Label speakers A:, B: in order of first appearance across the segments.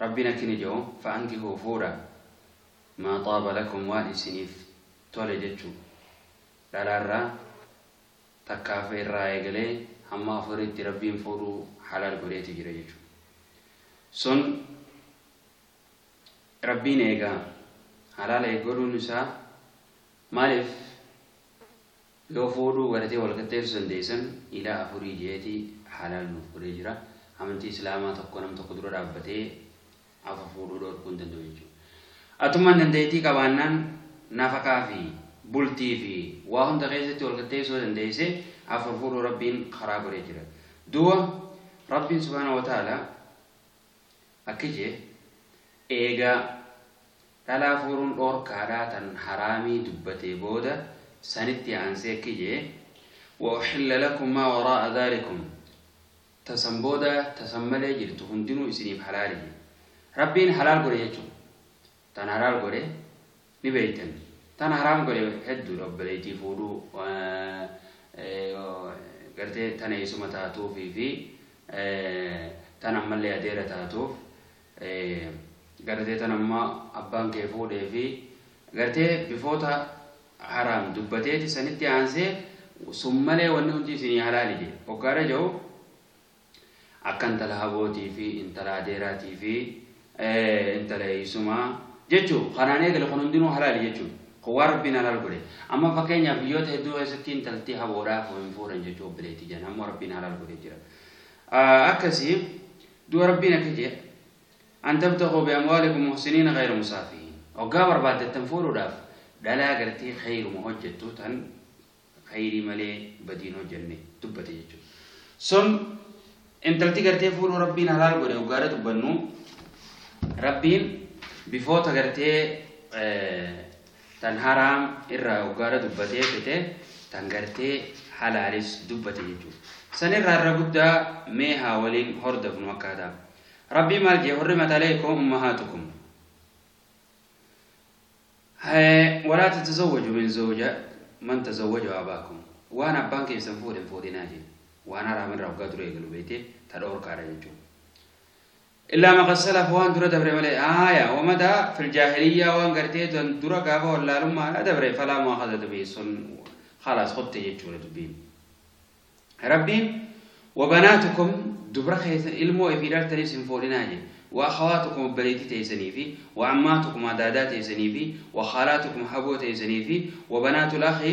A: Rabbiin akki ni je'u, Fa'ankihuu fuudha, maa xaaba lakum waan isiniif tole jechu, dhalaarraa, takkaa fi irraa eegalee hamma afuriitti Rabbiin fuudhuu halaal godheeti jira jechu. Sun Rabbiin eegaa, halaal eeggodhuun isaa maaliif? Yoo fuudhuu garatee wal qixxeessu dandeessan ilaa afurii jeeti halaal nuuf godhee jira. Amantii islaamaa tokko nam tokko dura dhaabbatee afur fuudhuu dhoorkuu hin danda'u jechuudha. Atummaan dandeettii qabaannaan nafaqaa fi bultii fi waa hunda keessatti wal qixxeessu yoo dandeesse afur fuudhuu Rabbiin karaa godhee jira. Duuba Rabbiin subhaanahu wa ta'aalaa akki je'e eega Dhalaa fuuruun dhoorkaadha tan haraamii dubbatee booda sanitti aansee akki je'e, Wa uxilla lakum maa waraa'a dhaalikum, ta san booda ta san malee jirtu hundinuu isiniif halaali je'e. Rabbiin halaal godhe jechuun tan halaal godhe ni beeytan, tan haraam godhe hedduudha obboleeytii fuudhuu gartee tan eeysuma taatuufii fii tan ammallee adeera taatuuf Gartee tan amma abbaan kee fuudhee fi gartee bifoota haraam dubbateeti sanitti aansee sun malee wanni hundi isinii halaali jee hoggaara jau akka intala habootii fi intala adeeraatii fi intala eeysumaa jechu kanaan eegale kun hundinuu halaali jechuun kun waan rabbiin halaal godhe amma fakkeenyaaf biyyoota hedduu keessatti intalti haboodhaa hin fuudhan jechuu obboleettii jan ammoo rabbiin halaal godhe jira akkasii Du'a Rabbiin akka je'e, An tabtaghuu bi amwaalikum muhsiniina ghayra musaafihiin. Hoggaa barbaaddattan fuudhuudhaaf dhalaa gartee khayruma hojjattu tan khayrii malee badii hin hojjanne dubbate jechuudha. Sun intalti gartee fuudhuu Rabbiin halaal godhe hoggaadha dubbannu Rabbiin bifoota gartee Tan haraam irraa hoggaara dubbatee fete tan gartee halaalis dubbate jechuudha. San irraa irra guddaa mee haa waliin hordofnu akkaataa. Rabbii maal jee hurrimat alaykum ummahaatukum. Walaa tatazawwaju min zawja man tazawwaju abaakum. Waan abbaan keessan fuudhe hin fuudhinaa jee. Waan haraam irraa hoggaa dura eegalu beeytee ta dhoorkaadha jechuudha. Illaa ma qad salafa waan dura dabre malee, aaya, wa ma daa, fil jaahiliyyaa waan gartee tan dura gaafa wallaalummaadhaa dabre, falaa mu'aakhazata bihi sun khalaas kutte jechuudha dubbiin. Rabbiin wa banaatukum dubra keessan ilmoo ifii dhaltaniis hin fuudhinaa jedhe. Wa akhawaatukum obboleettii teessanii fi wa ammaatukum adaadaa teessanii fi wa khaalaatukum haboo teessanii fi wa banaatul akhi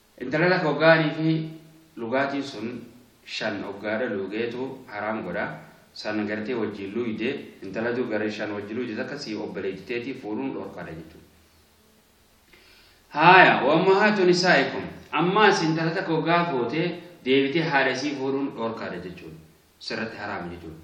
A: Intala lafa oggaanii fi lugaatiin sun shan oggaadha luugeetu haraam godha, san gartee wajjiin luuyde, intala dur gara shan wajji luuyde takka sii obbaleetti teetii fuudhuun dhorkaadha jechuudha. Haaya, wa ummahaatu nisaa'ikum, ammaas intala takka oggaa fuute deebitee haadha isii fuudhuun dhorkaadha jechuudha. Sirratti haraama jechuudha.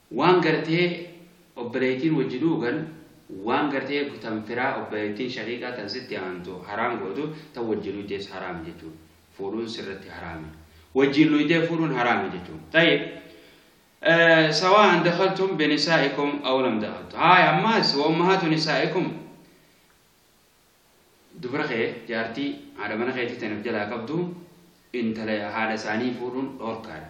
A: Waan gartee obboleeytiin wajji dhuugan waan gartee tan firaa obboleeytiin shaqiiqaa tan sitti aantu haraam gootu tan wajji luuydees haraam jechuun fuudhuun sirratti haraami. Wajjiin luuydee fuudhuun haraami jechuun. Xayyib. Sawaa'an dakhaltum binisaa'ikum aw lam dakhaltu. Haaya ammaas wa ummahaatu nisaa'ikum dubra kee jaartii haadha mana keetii tan of jalaa qabdu intala haadha isaanii fuudhuun dhoorkaadha.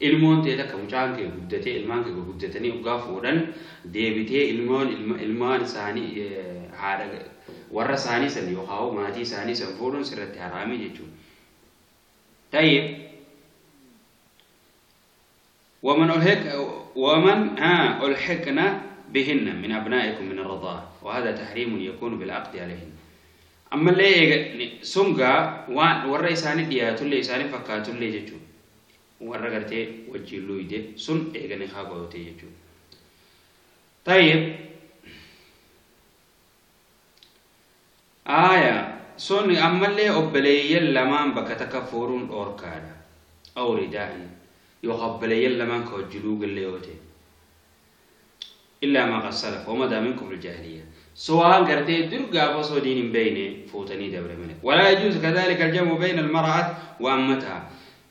A: Ilmoon tee takka mucaan kee guddatee ilmaan kee gurguddatanii oggaa fuudhan deebitee ilmoon ilma ilmaan isaanii haadha warra isaanii san yookaan maatii isaanii san fuudhuun sirratti haraamii jechuudha. Tayyib waman ulhiq waman ulhiqna bihinna min abnaa'ikum min arradaa wa hada tahriimun yakuunu bil'aqdi alayhin ammallee eega sungaa waan warra isaanii dhiyaatullee isaanii fakkaatullee jechuudha. warra gartee wajjiin luuyde sun eega nikaa godhate jechuudha. Tayyib aaya sun ammallee obboleeyyan lamaan bakka takka fuudhuun dhoorkaadha. Awridaa'in yookaan obboleeyyan lamaan ka wajji luugallee yoo ta'e. Illaa maa qad salaf wa madaa min kufril jaahiliyyah. So waan gartee dur gaafa osoo diin hin beeyne fuutanii dabre malee. Walaa yajuuzu kadhaalika al-jam'u bayna al-mara'at wa ammataha.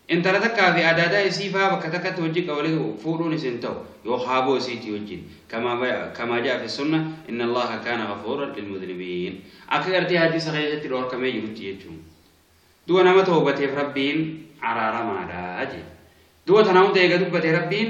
A: Intala takkaa fi adaadaa isii faa bakka takkatti wajji qabanii fuudhuunis hin ta'u yoo haaboo isiitii wajjin. Kamaa ja'a fi sunna inna Allaha kaana ghafuuran lilmudhnibiin. Akka gartee hadiisa keessatti dhoorkamee jirutti jechuun. Duba nama tawbateef Rabbiin araaramaadha jee. Duba tana hunda eega dubbate Rabbiin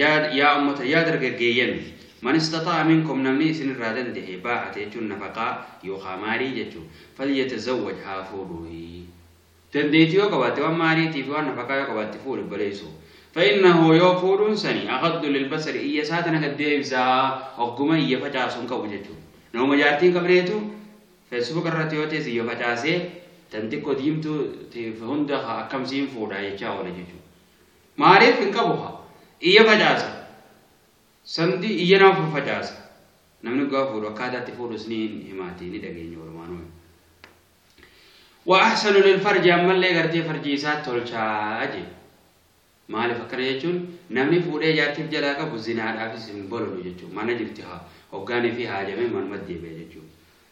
A: Yaad yaa ummata yaa dargaggeeyyan Man istaxaa'a minkum namni isin irraa dandahe, baa'ata jechuun nafaqaa yookaa maarii jechu, falyatazawwaj haa fuudhuuyi. Dandeeyti yoo qabaatte waan maarii tii fi waan nafaqaa yoo qabaatte fuudhi obboleeyso. Fa'innahu yoo fuudhuun sani aghaddu lilbasari iyya isaa tana gad deebisa, ogguma iyya facaasu hin qabu jechu. Namuma jaartii hin qabneetu Facebook irratti yoo teesse iyya facaasee tan xiqqo diimtuu teef hunda akkam siin fuudha jechaa oola jechu. Maaliif hin qabu haa. Iyya facaasa. Samdi iyya nama faffacaasa. Namni dhugaa fuudhu akkaataa itti fuudhus ni himaati ni dhageenya walumaanuu. Wa ahsanu lil farji ammallee gartee farjii isaa tolchaa jee. Maaliif akkana jechuun namni fuudhee jaartiif jalaa qabu zinaadhaafis hin bololu jechuudha. Mana jirti haa hoggaanii fi haajamee manumatti deebi'a jechuudha.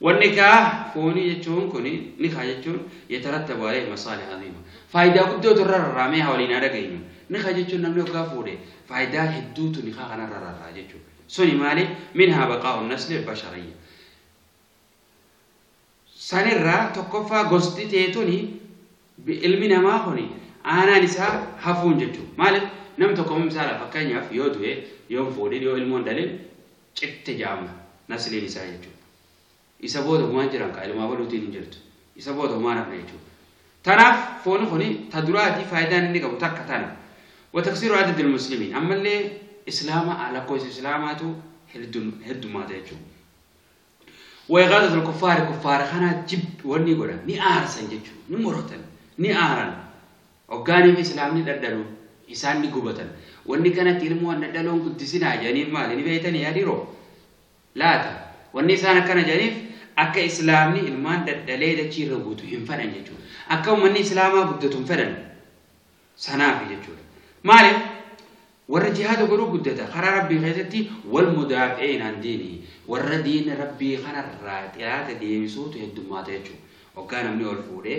A: Wan nikaah foonii jechuun kuni, nikaah jechuun, yatarattabu aleyhi masaalih aziima. Faayidaa guddootu irra rarraa mee haa waliin haa dhageenyu. Nikaah jechuun namni hoggaa fuudhe faayidaa hedduutu nikaah kanarra rarraa jechuu. Suni maali? Minhaa baqaa'u nasli albashariyya. Sanirraa tokkoffaa gosti tee tuni ilmi namaa kuni aanaan isaa hafuun jechuu. Maalif? Nam tokko misaala fakkeenyaaf yoo du'e, yoon fuudhin, yoo ilmoon dhalin citte jaama nasliin isaa jechuudha. Isa booda humaan jiran kaa ilmaa waluutiin hin jirtu. Isa booda humaan hafne jechuudha. Tanaaf fooni kuni ta duraatii faayidaan inni qabu takka tana. Wataksiiru adadil muslimiin ammallee islaama lakkoofsa islaamaatu heddummaata jechuudha. Wayqaadatul kuffaari kuffaara kanaa jib wanni godhan ni aarsan jechuudha. Ni morotan ni aaran. Hoggaanii fi Islaamni dhadhaluu, isaan ni gubatan. Wanni kanatti ilmoo hin dhadhaloon guddisinaa jedhaniif maali? Ni beeytanii yaa dhiroo? Laata? Wanni isaan akkana jedhaniif akka Islaamni ilmaan dhadhalee dachii irra guutu hin fedhan jechuudha. Akka ummanni Islaamaa guddatu hin fedhan. Sanaafi jechuudha. Maaliif? Warra jihaada godhuu guddata. Karaa Rabbii keessatti wal mudaafi'iin an diini. Warra diina Rabbii kanarraa xiraata deebisuutu heddummaata jechuudha. Hoggaa namni ol fuudhee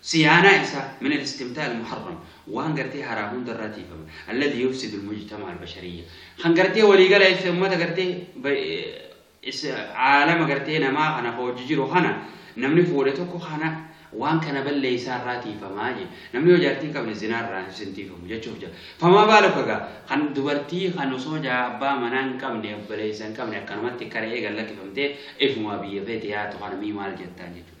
A: Siyaanaa isaa, min al-istimtaa al-muharram, waan gartee haraam hunda irraa tiifama. Alladhi yufsidu al-mujtama'a al-bashariyya. Kan gartee walii gala isa ummata gartee ba- is- aalama gartee namaa kana ka wajji jiru kana namni fuudhe tokko kana waan kana balleessaa irraa tiifamaa je. Namni yoo jaartii hin qabne zinaa irraa hin tiifamu jechuuf jira. Famaa baalu kaga kan dubartii kan osoo jaa abbaa manaa hin qabne obboleessa hin qabne akkanumatti kara'ee gad lakkifamtee ifumaa biyya feete yaatu kana mii maal jettaan jechuudha.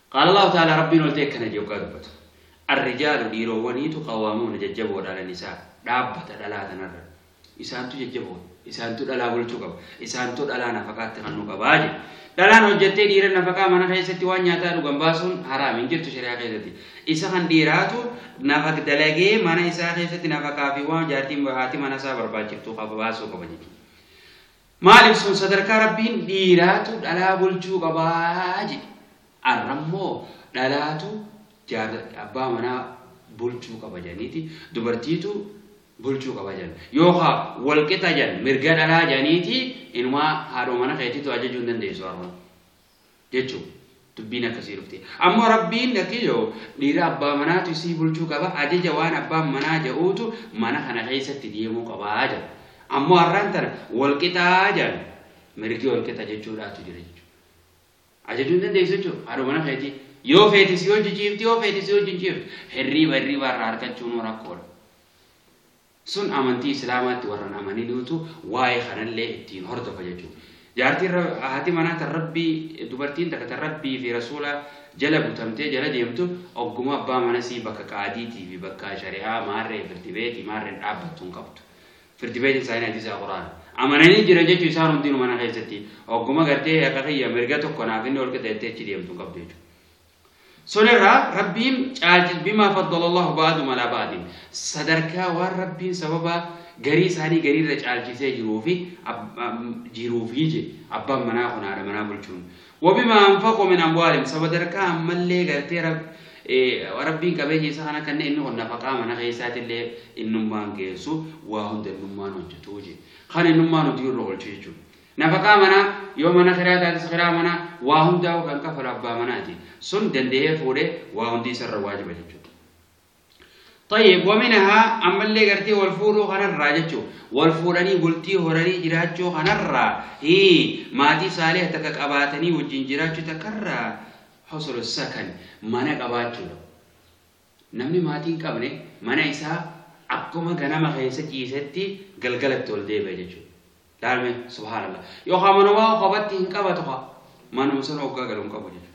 A: Qaala Allaahu ta'aalaa, Rabbiin ol ta'e akkana jedhee hoggaa dubbatu, Ar-rijaalu dhiiroowwaniitu qawwaamuuna jajjaboodha 'ala nisaa, dhaabbata dhalaa tanarra. Isaantu jajjaboodha. Isaantu dhalaa bulchuu qaba. Isaantu dhalaa nafaqaatti kennuu qaba jedhe. Dhalaan hojjattee dhiira nafaqaa mana keessatti waan nyaataa dhugan baasuun haraam hin jirtu shari'aa keessatti. Isa kan dhiiraatu nafaq dalagee mana isaa keessatti nafaqaa fi waan jaartiin haati mana isaa barbaachiftu qaba baasuu qaba jechuudha. Maaliif sun sadarkaa Rabbiin dhiiraatu dhalaa bulchuu qabaa jedhe. Arrammoo dhalaatu jaarsa abbaa manaa bulchuu qaba jedhaniiti dubartiitu bulchuu qaba jedhan. Yookaan wal qixa jedhan mirga dhalaa jedhaniiti inumaa haadhoo mana keetiitu ajajuu hin dandeessu har'a. jechuun dubbiin akkasii dhufte. Ammoo rabbiin lakkiyoo dhiira abbaa manaatu isii bulchuu qaba ajaja waan abbaan manaa ja'uutu mana kana keessatti deemuu qabaa jedha. Ammoo har'aan tana wal qixaa jedhan mirgi wal qixa jechuudhaatu jira jechuudha. Ajajuu hin dandeessu jechuudha haadha mana keetii. Yoo feete si hojji ciifti yoo feete si hojji hin ciiftu. Hirriiba hirriiba irraa argachuunuu rakkoodha. Sun amantii islaamaatti warra hin amaninuutu waa'ee kanallee ittiin hordofa jechuudha. Jaartiin Ra- haati manaa tan Rabbii dubartiin takka tan Rabbii fi Rasuula jala butamtee jala deemtu ogguma abbaa mana isii bakka qaadiitii fi bakka shari'aa maarree firdi beetii maarreen dhaabbattu hin qabdu. Firdi beetiin isaanii hadiisa Qur'aana. Amananii jiran jechuun isaan hundinuu mana keessatti ogguma gartee haqa kiyya mirga tokko naaf inni ol qixa jettee achi deemtu hin qabdu jechuudha. Sonirraa Rabbiin caalchis bimaa faddalallahu ba'adum alaa ba'adin sadarkaa waan Rabbiin sababa garii isaanii gariirra caalchisee jiruufi jiruufi je abbaan manaa kun haadha manaa bulchuun wabimaa anfaqu min amwaalim sabadarkaa ammallee gartee Rabbiin qabeenya isaa kana kanneen inni kun nafaqaa mana keessaatillee innummaan geessu waa hunda innummaan hojjetuu je kan innummaan hojii irra oolchu jechuudha. Nafaqaa manaa, yoo mana kiraa taates kiraa manaa, waa hundaa'uu kan kafalu abbaa manaati. Sun danda'ee fuudhe waa hundi isarra waajiba jechuudha. Tayyib, waminahaa ammallee gartee wal fuudhuu kanarraa jechuu wal fuudhanii bultii horanii jiraachuu kanarraa hii maatii saaliha takka qabaatanii wajjin jiraachuu takkarraa husulu sakan mana qabaachuudha. Namni maatii hin qabne mana isaa akkuma ganama keessa ciisetti galgala itti ol deebi'a jechuudha. Laal mee subhaanallah. Yookaan manumaa kophatti hin qabatu kaa manuma sana hoggaa galu hin qabu jechuudha.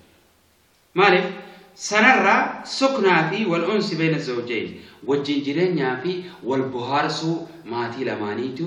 A: Maaliif? Sanarraa suknaa fi wal unsi beena zawjayn wajjin jireenyaa fi wal bohaarsuu maatii lamaaniitu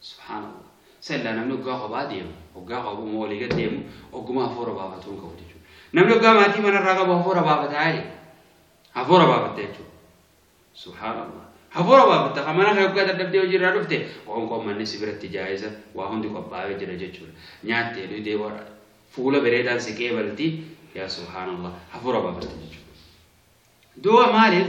A: Subhaanallah. Sallaa namni oggaa kophaa deemu, oggaa qabu moo walii gad deemu, ogguma hafuura baafatu hin qabu jechuudha. Namni oggaa maatii manarraa qabu hafuura baafataa jedhe. Hafuura baafatta jechuudha. Subhaanallah. Hafuura baafatta kan mana kee oggaa dadhabdee hojiirraa dhufte qoonqoon manni si biratti jaa'iza waa hundi qophaa'ee jira jechuudha. Nyaattee dhugdee boodha. Fuula bareedaan si qeebalti. Yaa subhaanallah. Hafuura baafatta jechuudha. Duuba maaliif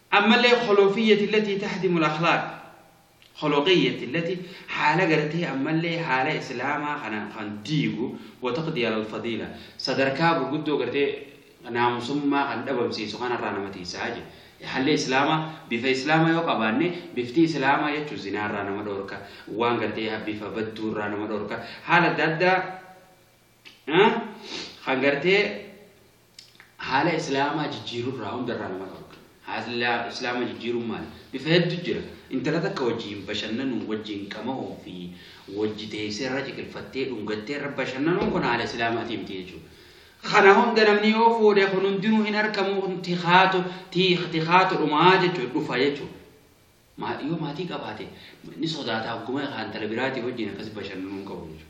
A: Ammallee kholoqiyyati allatii tahdimul akhlaaq, kholoqiyyati allatii haala gartee ammallee haala islaamaa kana kan diigu wa taqdii alal fadiila sadarkaa gurguddoo gartee naamusummaa kan dhabamsiisu kanarraa nama tiysa jedhe. Haalli islaamaa bifa islaamaa yoo qabaanne bifti islaamaa jechuun zinaarraa nama dhoorka, waan gartee bifa badduurraa nama dhoorka, haala adda addaa kan gartee Haala Islaamaa jijjiiruu irraa hunda irraa nama dhorka. Haala Islaamaa jijjiiruun maali? Bifa hedduu jira. Intala takka wajjin bashannanuu, wajjin qama'uu fi wajji teessee irra ciqilfattee dhungattee irra bashannanuun kun haala Islaamaatii miti jechuudha. Kana hunda namni yoo fuudhe kun hundinuu hin argamu kun tikaatu tikaatu dhumaa jechuudha dhufa jechuudha. Maatii yoo maatii qabaate ni sodaata hogguma kaan intala biraatii wajjin akkasi bashannanuu hin qabu jechuudha.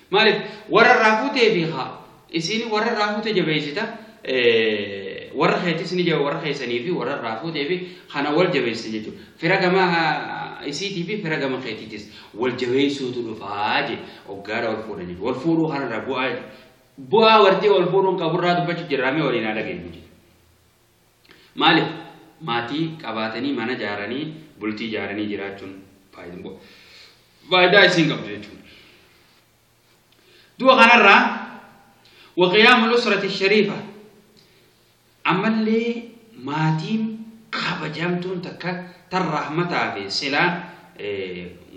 A: Maalif warra irraa fuutee fi haa isiin warra irraa fuute jabeessita warra keetis ni jabe warra keessanii fi warra irraa fuutee fi kana wal jabeessita jechuudha. Fira gama isiitii fi fira gama keetiitis wal jabeessuutu dhufaa je oggaadha wal fuudhan jechuudha. Wal fuudhuu kanarraa bu'aa bu'aa wartee wal fuudhuun qaburraa dubbachuuf jirraamee waliin haa dhageenyu. Maalif maatii qabaatanii mana jaaranii bultii jaaranii jiraachuun faayidaa isiin qabdu jechuudha. Du'a kanarraa waqiyaamul usrati shariifa ammallee maatiin kabajamtuun takka tan rahmataa fi silaa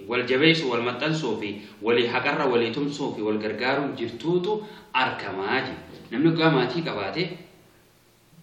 A: wal jabeessuu wal maxxansuu fi walii haqarra walii tumsuu fi wal gargaaruun jirtuutu argamaa jiru. Namni dhugaa maatii qabaate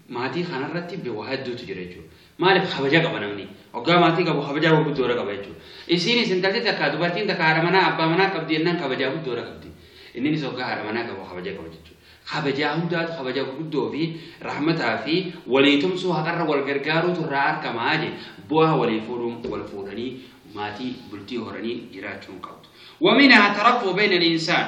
A: maatii kanarratti be- waa hedduutu jira jechuudha. Maaliif kabaja qaba namni. Oggaa maatii qabu kabajaa waa guddoodha qaba jechuudha. Isiinis intalti takka dubartiin takka haadha manaa abbaa manaa qabdi jennaan kabajaa guddoodha qabdi. Inninis oggaa haadha manaa qabu kabaja qaba jechuudha. Kabajaa hundaatu kabaja guddoo fi rahmataa fi walii tumsuu haqarra wal gargaaruutu irraa argamaa je bu'aa walii fuudhuun wal fuudhanii maatii bultii horanii jiraachuun qabdu. Waminaa tarafu bayna al-insaan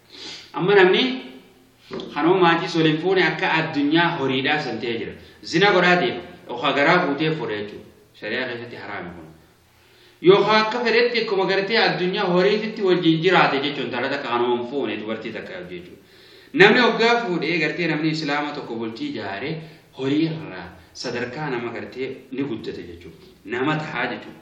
A: Amma namni kanoo maatii sooliin fuune akka addunyaa horiidhaa san ta'ee jira. Zina godhaa deema. Yookaan garaa guutee fuudha jechuudha. Shari'aa keessatti haraami kun. Yookaan akka fedhetti akkuma gartee addunyaa horiititti wajjin jiraate jechuun intala takka kanoo hin fuune dubartii takka jechuudha. Namni hoggaa fuudhee gartee namni islaama tokko bultii ijaare horii irraa sadarkaa nama gartee ni guddate jechuudha. Nama tahaa jechuudha.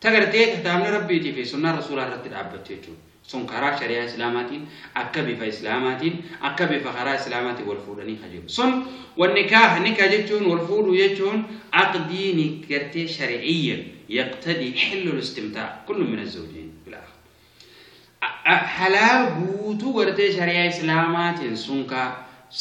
A: Ta gartee kitaabni Rabbiitii fi sunnaan Rasuulaa irratti dhaabbattu jechuudha. Sun karaa shari'aa Islaamaatiin, akka bifa Islaamaatiin, akka bifa karaa Islaamaatiin wal fuudhanii ka jiru. Sun wannikaah, nika jechuun, wal fuudhuu jechuun, aqdii ni gartee shari'iyyan yaqtadii hillul istimtaa kullun min azzawjayn bil aakhar. halaal guutuu gartee shari'aa islaamaatiin sun ka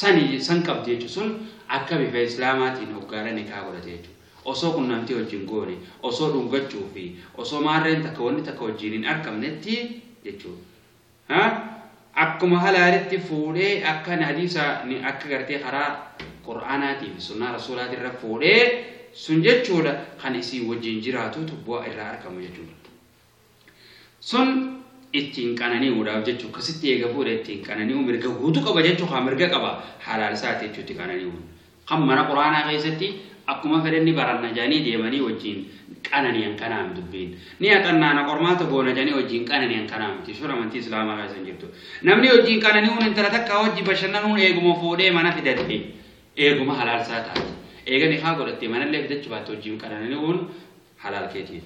A: sani san qabdi jechuudha sun akka bifa islaamaatiin hoggaara nikaa godhate jechuudha osoo qunnamtii wajjin goone osoo dhungachuu fi osoo maarreen takka wanni takka wajjin hin arkamnetti jechuudha ha akkuma halaalitti fuudhee akka hadiisa ni akka gartee karaa qur'aanaatii fi sunnaa rasuulaatii irra fuudhee sun jechuudha kan isii wajjin jiraatutu bu'aa irraa argamu jechuudha Sun ittiin qanani'uudhaaf jechu akkasitti eega fuudhe ittiin qanani'u mirga guutu qaba jechu haa mirga qaba halaal isaati jechu itti qanani'uun. Kan mana quraanaa keessatti akkuma fedhe ni baranna jedhanii deemanii wajjin qanani'an kanaa hin dubbiin. Ni haxannaana qormaata goona jedhanii wajjin qanani'an kanaa miti. Sun amantii Islaamaa keessa hin jirtu. Namni wajjin qanani'uun intala takkaa wajji bashannanuun eeguma fuudhee mana fidate eeguma halaal isaa taati. Eega nikaa godhattee manallee fidachu baatte wajjin qanani'uun halaal keetiif.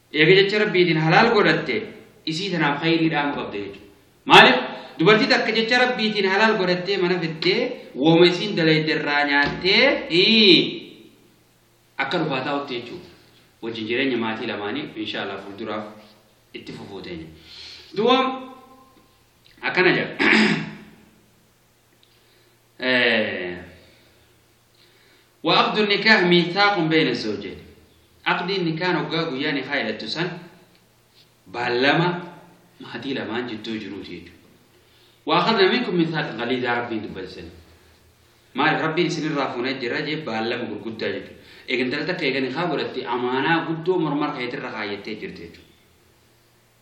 A: Eega jecha Rabbiitiin halaal godhatte isii tanaaf khayrii dhaamu qabda jechu. Maalif dubartii takka jecha Rabbiitiin halaal godhattee mana fiddee wooma isiin dalayde irraa nyaattee hii akka dhufaa taa'utti jechu. Wajjin jireenya maatii lamaanii insha Allah fuulduraaf itti fufuu teenya. Duwwa akkana jedha. Wa aqdu nikaah miithaaqun beeyna zawjayn. Aqdiin nikaan hoggaa guyyaa nikaa hidhattu san baallama maatii lamaan jidduu jiruuti jechuudha. Wa akhadna minkum miithaaq qaliidaa rabbiin dubbate san. Maaliif rabbiin isinirraa fuunee jira jee baallama gurguddaa jechuudha. Eegantala takka eegani haa godhatte amaanaa guddoo mormar keetirra kaayyattee jirti jechuudha.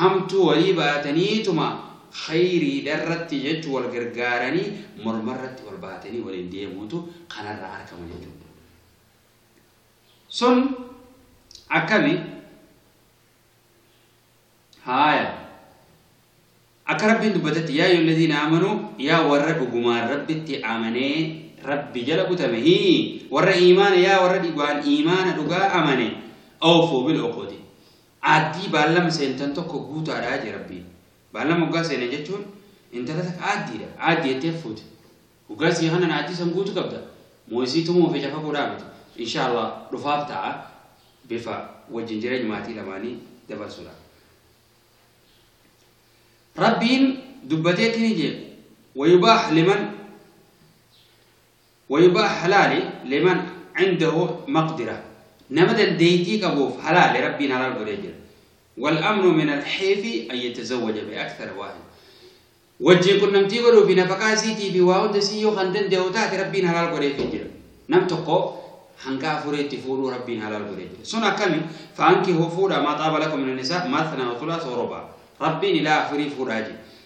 A: Hamtuu walii baataniituma khayriidharratti jechuun wal gargaaranii mormarratti wal baatanii waliin deemuutu kanarraa argama jechuudha. Sun akkami? Haaya. Akka Rabbiin dubbatetti yaa ayyuhal laziina aamanuu yaa warra dhugumaan Rabbitti amanee Rabbi jala butame hii warra iimaana yaa warra dhugaan iimaana dhugaa amane awfuu bil uqudi Aaddii baallama seentan tokko guutaadha jee rabbiin. Baallama hoggaa seenan jechuun intala takka aaddiidha. Aaddi jettee fuute. Hoggaa sii kanan aaddii san guutu qabda. Moo isii tumuu fi cafaquudhaa miti. Inshaa Allah dhufaaf ta'a bifa wajjin jireenya maatii lamaanii dabarsuudha. Rabbiin dubbateetti ni jeequ. Wayubaax liman Wayibaa halaali liman cindahu maqdira nama dandeeytii qabuuf halaali rabbiin halaal godhee jira. Wal amnu min al xiifi an yatazawaja bi akthar waahid wajjiin qunnamtii godhuu fi nafaqaa isiitii fi waa hunda isii yoo kan dandahu taate rabbiin halaal godheefii jira. Nam tokko hanga afuriitti fuudhuu rabbiin halaal godhee jira. Sun akkami faankihuu fuudha maa xaaba lakum min nisaa mathna wa thulaasa wa rubaa. Rabbiin ilaa afurii fuudhaa jira.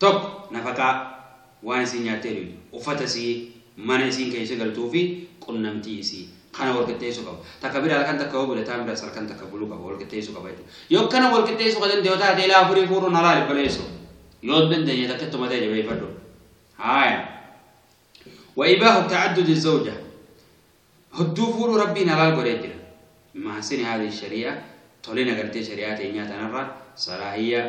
A: 1, Nafaqaa, waan isiin nyaattee dhuydu, uffata isii, mana isiin keeysa galtuu fi qunnamtii isii. Kana wal qixxeeysu qaba. Takka bira halkan takka yoo bule taan biras halkan takka bulu qaba. Wal qixxeeysu qaba jechu. Yoo akkana wal qixxeeysu ka dandayu taate ilaa afurii fuudhuun halaali baleeysu. Yoo hin dandeenye takka ittuma ta'e jabeeyfadhu. Haaya. Wa ibaahu ta'addudi zawja. Hudduu fuudhuu Rabbiin halaal godhee jira. Min mahasini haadhihi sharii'a, tolina gartee shari'aa teenyaa tanarraa, salaahiyya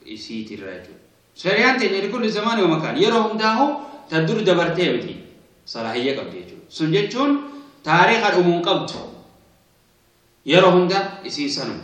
A: isiitirraa jechuudha. Shari'aan teenya likulli zamani wa makaan, yeroo hundaahuu ta dur dabartee miti, salaahiyya qabdi jechuudha. Sun jechuun taariikha dhumu hin qabdu. Yeroo hunda isiin sanuma.